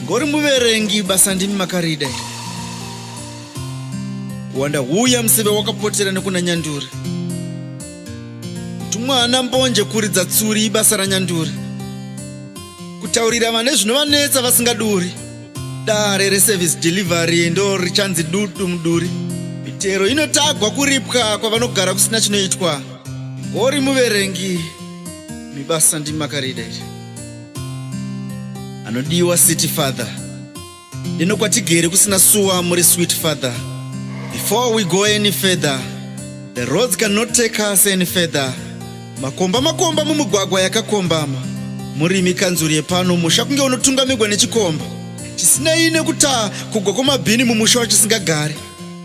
uri muverengi basa ndimi makarida wanda huya museve wakapotera nekuna nyanduri tumwana mbonje kuridza tsuri ibasa ranyanduri kutaurira vane zvinovanetsa vasingaduri Dare reservice delivery ndo richanzi dutu muduri. Mitero inotagwa kuripwa kwavanogara kusina chinoitwa. Ngori muverengi mibasa ndimi makarida iri. Anodiwa city father. Ndino kwatigere kusina suwa muri sweet father. Before we go any further, the roads cannot take us any further. Makomba makomba mumugwagwa yakakombama. Murimi kanzuru yepano musha kunge unotungamirwa nechikomba. Chisinei nekutaa kugwa kwamabhini mumusha wachisingagare.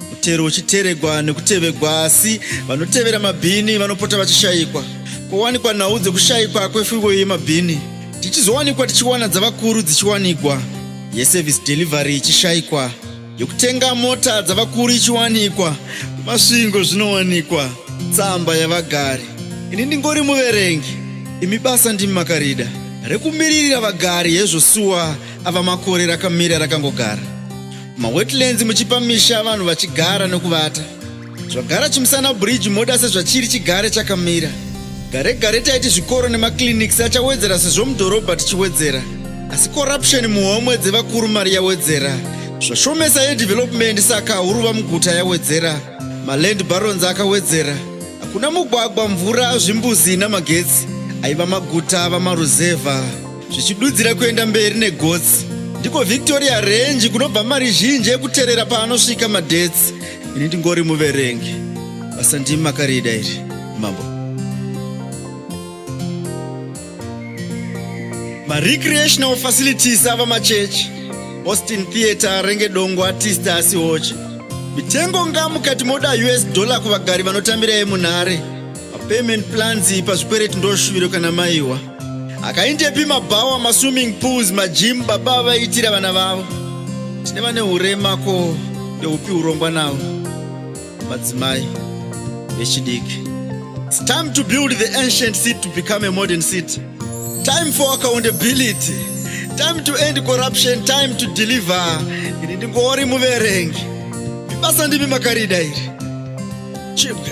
Mutero uchiteregwa nekutevegwa asi vanotevera mabhini vanopota vachishayikwa. Kowanikwa nhau dzekushayikwa kwefuyo yemabhini tichizowanikwa tichiwana dzavakuru dzichiwanigwa yeservice delivery ichishayikwa. yokutenga mota dzavakuru ichiwanikwa masvingo zvinowanikwa tsamba yavagari ini ndingori muverengi imi basa ndimi makarida rekumiririra vagari hezvo suwa ava makore rakamira rakangogara mawetlands muchipa misha vanhu vachigara nekuvata zvagara chimusana bridge moda sezvachiri chigare chakamira gare gare taiti zvikoro nemaclinics achawedzera sezvo mudhorobha tichiwedzera asi corruption muhomwe dzevakuru mari yawedzera zvashomesa yedevelopment saka huruva muguta yawedzera maland barons akawedzera hakuna mugwagwa mvura zvimbuzi namagetsi aiva maguta vamaruzevha zvichidudzira kuenda mberi negotsi ndiko victoria range kunobva mari zhinji yekuterera paanosvika madetsi ini ndingori muverengi basa ndimi makarida iri mambo marecreational facilities ava machechi austin theatre renge dongo artist asi hochi mitengo nga mukati moda us dollar kuvagari vanotambira yemunhare mapayment plans pazvikwereti ndoshuviro kana maiwa akaindepi mabhawa maswimming pools majim baba vaiitira vana vavo tine vane urema ko ndeupi urongwa navo madzimai vechidiki its time to build the ancient city to become a modern city time for accountability time to end corruption time to deliver ini ndingori muverengi ibasa ndimi makarida iri chipka